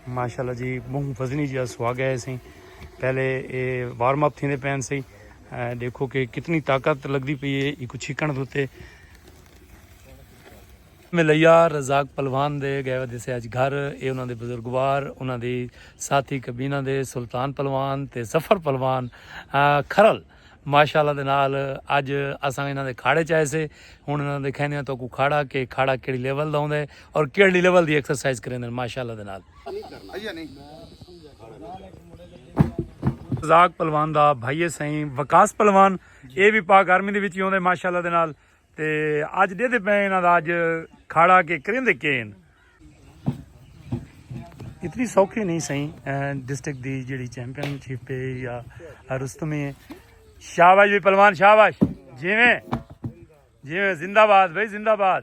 ماشاء اللہ جی بہت فضنی جی سواگ ہے سی پہلے یہ وارم اپ تھے پین سی دیکھو کہ کتنی طاقت لگتی پی ہے ایک چھکن دے میں لیا رزاق پلوان دے گئے دسے اج گھر اے انہاں دے بزرگوار انہاں دی ساتھی کبینہ دے سلطان پلوان تے ظفر پلوان کھرل ماشاءاللہ دے نال اج اساں انہاں دے کھاڑے چائے سے ہن انہاں دے کھیندے ہیں تو کو کھاڑا کہ کھاڑا کیڑی لیول دا ہوندا ہے اور کیڑی لیول دی ایکسرسائز کریندے ہیں ماشاءاللہ دے نال زاک پلوان دا بھائی سائیں وکاس پلوان اے بھی پاک آرمی دے وچ ہوندے ماشاءاللہ دے نال تے اج دے دے پین دا اج کھاڑا کے کریں دے کین اتنی سوکھی نہیں سہی ڈسٹرکٹ دی جڑی چیمپئن شپ ہے یا رستمی ہے شاباش بھی پلوان شاباش جیویں جیویں زندہ باد بھائی زندہ باد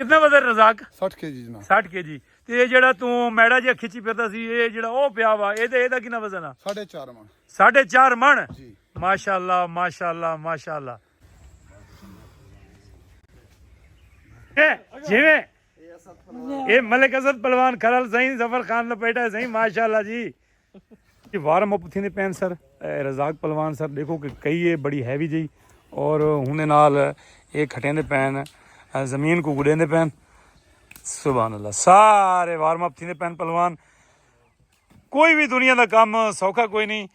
کتنا وزن رزاق 60 کے جی جناب 60 کے جی تے یہ جڑا تو میڑا جے کھچی پھردا سی یہ جڑا او پیا وا اے دے اے دا کتنا وزن ہے 4.5 من 4.5 من جی ماشاءاللہ ماشاءاللہ ماشاءاللہ اے جیویں اے ملک اسد پلوان کھرل سائیں ظفر خان لپیٹا سائیں ماشاءاللہ جی جی وارم اپ تھیندے پین سر رزاق پلوان سر دیکھو کہ کئی ہے بڑی ہیوی جی اور ہن نال اے کھٹیندے پین زمین کو گڈیندے پین سبحان اللہ سارے وارم اپ تھیندے پین پلوان کوئی بھی دنیا دا کام سوکھا کوئی نہیں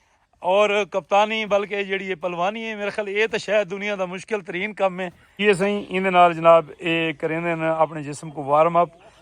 اور کپتانی بلکہ جیڑی پلوانی ہے میرے خیال اے تو شاید دنیا دا مشکل ترین کام ہے یہ سائیں ایندے نال جناب اے کریندے اپنے جسم کو وارم اپ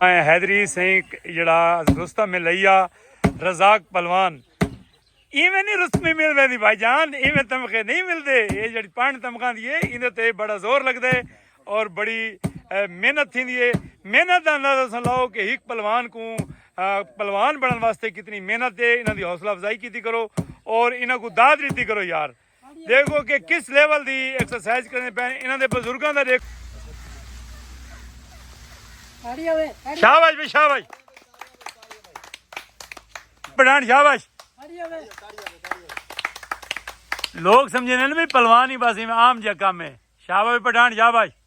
حیدری سینک جڑا رستہ میں لئیا رزاق پلوان ایویں نہیں رستمی مل ویندی بھائی جان ایویں تمخے نہیں مل دے یہ جڑی پانڈ تمخان دیئے اندھے تے بڑا زور لگ دے اور بڑی محنت تھی دیئے محنت دا اندازہ سن لاؤ کہ ہیک پلوان کو پلوان بڑھن واسطے کتنی محنت دے انہاں دی حوصلہ افزائی کیتی کرو اور انہاں کو داد ریتی کرو یار دیکھو کہ کس لیول دی ایکسرسائز کرنے پہ انہاں دے بزرگاں دا دیکھو شاباش بھی شاباش پڑھان شاباش لوگ سمجھے نے بھی پلوان ہی بس عام جا کام ہے شاباش پڑھان شاباش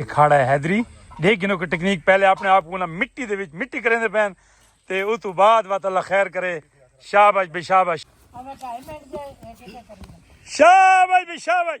اکھاڑا ہے حیدری دیکھ گنو کہ ٹیکنیک پہلے اپنے آپ کو مٹی دے وچ مٹی کریں دے پین تے او تو بعد وات اللہ خیر کرے شابش بے شابش شابش بے شابش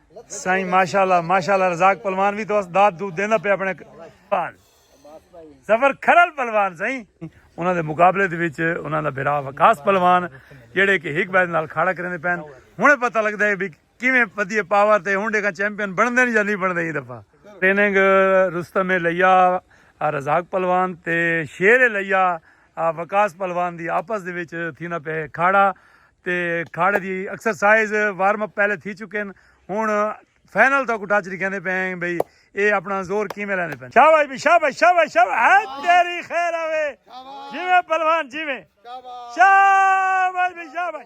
سائیں ماشاءاللہ ماشاءاللہ رزاق پلوان بھی تو اس داد دود دینا پہ اپنے پان زفر کھرل پلوان سائیں انہاں دے مقابلے دے وچ انہاں دا بھرا وکاس پلوان جڑے کہ ہک بیت نال کھاڑا کرنے پین ہنے پتہ لگدا ہے بھی کیویں پدی پاور تے ہنڈے کا چیمپئن بن دے یا نہیں بن دے دفعہ ٹریننگ رستم لیا رزاق پلوان تے شیر لیا وقاص پہلوان دی آپس دے وچ تھیندا پئے کھاڑا تے کھاڑے دی ایکسرسائز وارم اپ پہلے تھی چکن ہن فائنل تک اٹھا چڑی کہندے پئے ہیں بھئی اے اپنا زور کیویں لیندے پئے شاباش بھی شاباش شاباش شاباش ہے تیری خیر آوے جیویں پہلوان جیویں شاباش بھی شاباش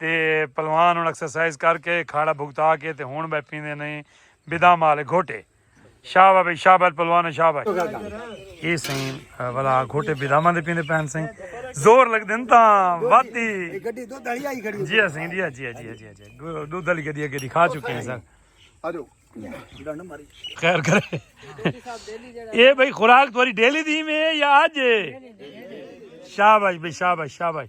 تے پلوان ہن ایکسرسائز کر کے کھاڑا بھگتا کے تے ہن بہ پیندے نے بدام والے گھوٹے شابا بھائی شابا پلوان شاہ بھائی اے سائیں والا گھوٹے بداماں دے پیندے پہن سائیں زور لگ دین تا واتی گڈی دو دلی آئی کھڑی جی سائیں جی جی جی جی جی دو دلی گڈی گڈی کھا چکے ہیں سر اجو خیر کرے اے بھائی خوراک تمہاری ڈیلی دی میں یا اج شاباش بھائی شاباش شاباش